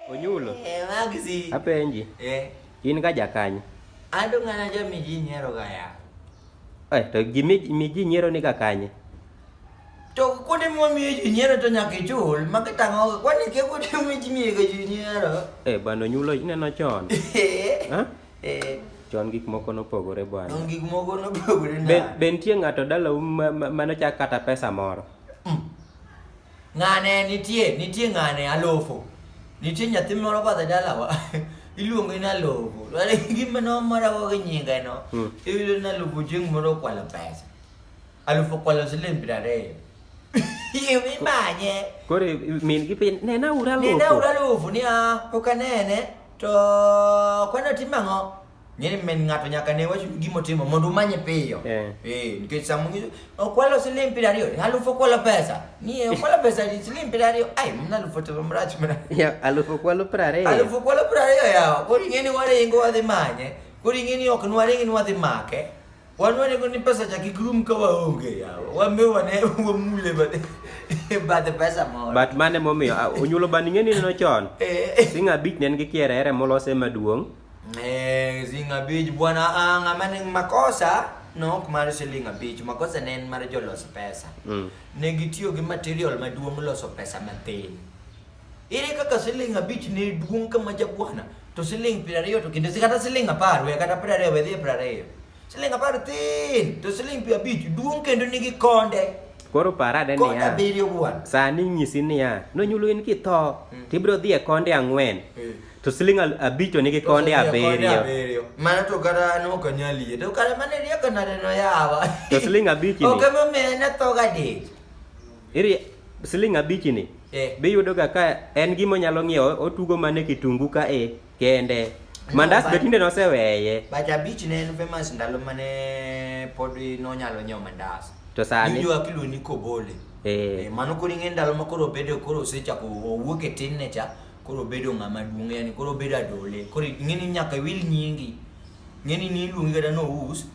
Onyulo. Eh, Maxi. Apenji. Eh. In ka jakanye. Ando ng'ana jo mi ji nyiero ga ya. Eh, to gi mi ji nyiero ni ka kanye. To kuonde mo mi ji nyiero to nyaka ichul, ma ka tango kwani ke kuonde mo ji mi ga ji nyiero. Eh, bano nyulo ineno chon. Eh. Ha? Eh. chon gik moko nopogore bwana. Chon gik moko nopogore na. Be, be nitie ng'ato dalau manochak kata pesa moro? Ng'ane nitie, nitie ng'ane alofo. Nitie nyathi moro badh e dalawa. Iluonge ni alofo. Wale gima no mara go gi nyinge no. Hmm. Iyudo ni alofo chieng' moro okwalo pesa. Alofo okwalo siling' piero ariyo. Iyo imanye. Koro min gi piny nena ura alofo. Nena ura alofo ni ah pok anene to kwano timo ang'o? Ng'eni min ng'ato nyaka ne wach gima otimo mondo umanye piyo. Eh. Eh, nikech saa mwingine okwalo siling piero ariyo, ni alufu okwalo pesa. Ni eh, okwalo pesa ni siling piero ariyo. Ai, mna alufu telo mrach mna. Ya, alufu kwalo piero ariyo. Alufu okwalo piero ariyo yawa. Koro ing'eni waringo wadhi manye. Koro ing'eni ok nwaringi ni wadhi make. Wanwane kuni pesa cha kikrum ka waonge yawa. Wambe wane wamule bade. Bade pesa moro. But mane momiyo ah, onyulo bani ng'eni neno chon. Eh. Singa beach nen gi kiere ere molose maduong'. Eh, Zinga Beach bwana ah, ng'ama ni makosa nok mar Zinga Beach makosa ne en mar jolos pesa Mm. ne gitiyo gi material maduong' loso pesa matin Ere kaka siling abich ne duong' ka ma jabwana to siling piero ariyo to kinde kata siling apar we kata piero ariyo wedhi e piero ariyo siling apar tin to siling piero abich duong' kendo nigi konde koro parade niya sani nyisi niya nonyulo in kitho mm. tibiro dhi e konde ang'wen mm. to siling abich onigi konde abiriyo mano to kata no kanyali to kata mane rieko nare no yawa to siling abich ni ok ema mena to gadich Iri siling abich ni Eh. biyudoga ka en gima onyalo ng'iewo otugo mana e kitungu ka e kende mandas be tinde noseweye But abich ne en famous ndalo mane pod nonyalo nyiewo mandas. To sani? Nijo akiluongo ni kobole. Eh. Eh, mano koro ing'e ndalo ma koro obedo koro osechako owuok e tinne cha koro obedo ng'ama duong' yani koro obedo adole koro ing'e ni nyaka iwil nyingi Ng'eni ni iluongi kata ni ous,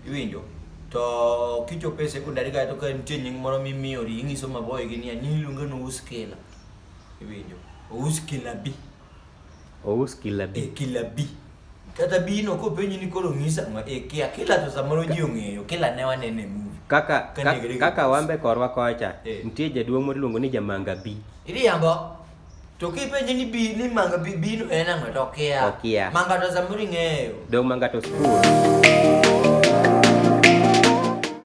iwinjo. To kichopo e sekondari kata to ka nitie nying moro mimiyori, ing'iso maboyo gi niya, nyingi iluonge ni ous kila. Iwinjo. Ous kila bi. Ous kila bi. E kila bi. Kata bino kopenji ni koro ng'isa ma e kia kila to samoro ji ong'eyo, kila ne wanene e movie. Kaka Ka ka- nigri- kaka wambe korwa kocha, Eh. nitie jaduong' moro iluongo ni Jamanga bi. Iriambo. To kipenje ni bi ni manga bi bino en ang'o to okia. Okia. Manga to samoro ing'eyo. Dong' manga to skul.